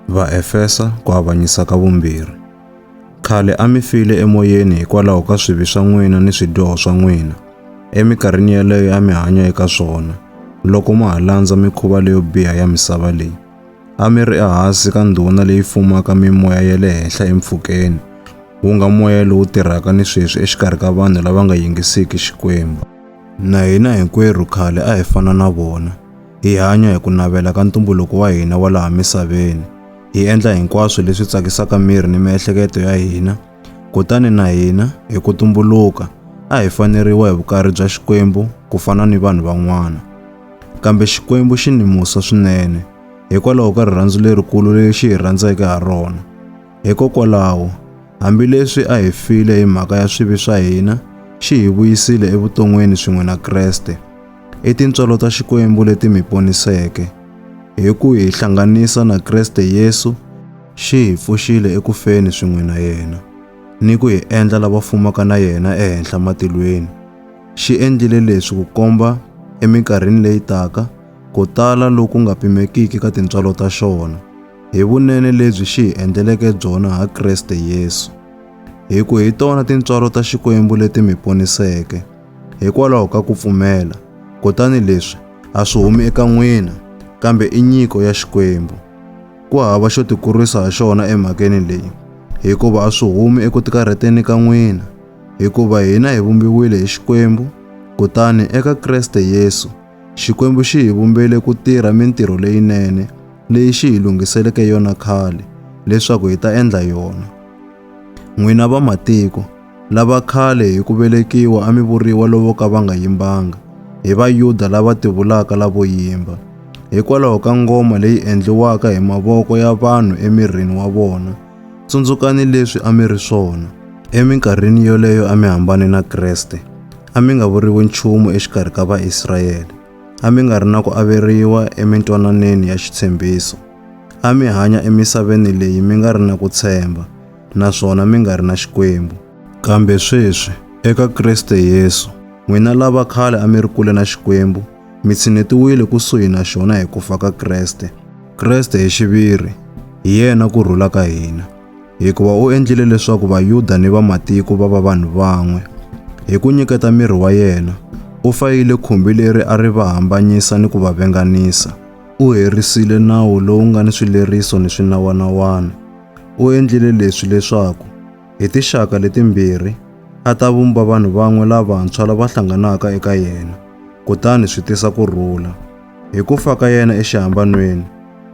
Vaefesa ku avanyisa ka vumbirhi. Khale a mi file emoyeni hikwalaho ka swivi swa n'wina ni swidyoho swa n'wina, eminkarhini yeleyo a mi hanya eka swona, loko ma ha landza mikhuva leyo biha ya misava leyi. A mi ri ehansi ka ndhuna leyi fumaka mimoya ya le henhla empfhukeni, wu nga moya lowu tirhaka ni sweswi exikarhi ka vanhu lava nga yingisiki Xikwembu. Na hina hinkwerhu khale a hi fana na vona. Hi hanya hi ku navela ka ntumbuluko wa hina wa laha misaveni. Hi endla hinkwaswo leswi tsakisaka miri ni miehleketo ya hina. Kutani na hina, hi ku tumbuluka, a hi faneriwa hi vukarhi bya Xikwembu ku fana ni vanhu van'wana. Kambe Xikwembu xi ni musa swinene hikwalaho ka rirhandzu lerikulu leri xi hi rhandzeke ha rona. Hikokwalaho, hambileswi a hi file hi mhaka ya swivi swa hina, xi hi vuyisile evuton'wini swin'we na Kreste. I tintswalo ta Xikwembu leti mi poniseke. Hi ku hi hlanganisa na Kreste Yesu, xi hi pfuxile eku feni swin'we na yena, ni ku hi endla lava fumaka na yena ehenhla matilweni. Xi endlile leswi ku komba eminkarhini leyi taka ku tala loku nga pimekiki ka tintswalo ta xona, hi vunene lebyi xi hi endleleke byona ha Kreste Yesu. Hi ku hi tona tintswalo ta Xikwembu leti mi poniseke. Hikwalaho ka ku pfumela, kutani leswi a swi humi eka n'wina, kambe i nyiko ya Xikwembu. Ku hava xo tikurisa ha xona emhakeni leyi, hikuva a swi humi eku tikarheteni ka n'wina, hikuva hina hi vumbiwile hi Xikwembu, kutani eka Kreste Yesu, Xikwembu xi hi vumbele ku tirha mintirho leyinene leyi xi hi lunghiseleke yona khale leswaku hi ta endla yona. N'wina vamatiko, Lava khale hi ku velekiwa a mi vuriwa lovo ka va nga yimbanga, hi Vayuda lava tivulaka lavo yimba, hikwalaho ka ngoma leyi endliwaka hi mavoko ya vanhu emirini wa vona. Tsundzukani leswi a mi ri swona. Eminkarhini yoleyo a mi hambane na Kreste, a mi nga vuriwi nchumu exikarhi ka Vaisrayele, a mi nga ri na ku averiwa emintwananeni ya xitshembiso, a mi hanya emisaveni leyi mi nga ri na ku tshemba, naswona mi nga ri na Xikwembu. Kambe sweswi, eka Kriste Yesu, n'wina lava khale a mi ri kule na Xikwembu, mi tshinetiwile kusuhi na xona hi ku fa ka Kriste. Kriste hi xiviri, hi yena ku rhula ka hina. Hikuva u endlile leswaku Vayuda ni Vamatiko va va vanhu van'we. Hi ku nyiketa miri wa yena, u fayile khumbi leri a ri va hambanyisa ni ku va venganisa. U herisile nawu lowu nga ni swileriso ni swinawana-wana. U endlile leswi leswaku hi tixaka letimbirhi a ta vumba vanhu van'we lavantshwa lava hlanganaka eka yena, kutani swi tisa ku rhula. Hi ku fa ka yena exihambanweni,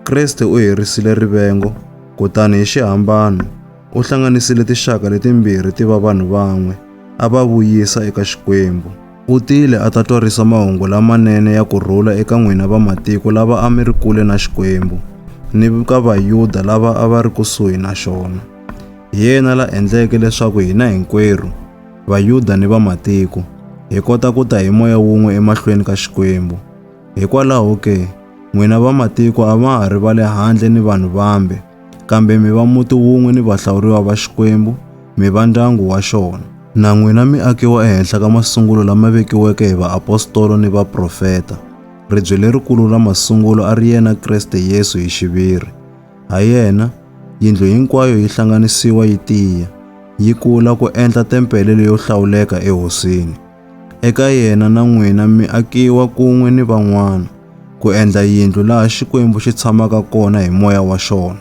Kriste u herisile rivengo, kutani hi xihambano u hlanganisile tixaka letimbirhi ti va vanhu van'we, a va vuyisa eka Xikwembu. U tile a ta twarisa mahungu lamanene ya ku rhula eka n'wina vamatiko lava a mi ri kule na Xikwembu, ni ka Vayuda lava a va ri kusuhi na xona. Hi yena la endleke leswaku hina hinkwerhu, Vayuda ni vamatiko, hi kota ku ta hi moya wun'we emahlweni ka Xikwembu. Hikwalaho ke, n'wina vamatiko a ma ha ri va le handle ni vanhu vambe, kambe mi va muti wun'we ni vahlawuriwa va Xikwembu, mi va ndyangu wa xona. Na n'wina mi akiwa ehenhla ka masungulo lama vekiweke hi vaapostolo ni vaprofeta. Ribye lerikulu ra masungulo a ri yena Kreste Yesu hi xiviri. Ha yena, yindlu hinkwayo yi hlanganisiwa yi tiya, yi kula ku endla tempele leyo hlawuleka eHosini. Eka yena na n'wina mi akiwa kun'we ni van'wana ku endla yindlu laha Xikwembu xi tshamaka kona hi moya wa xona.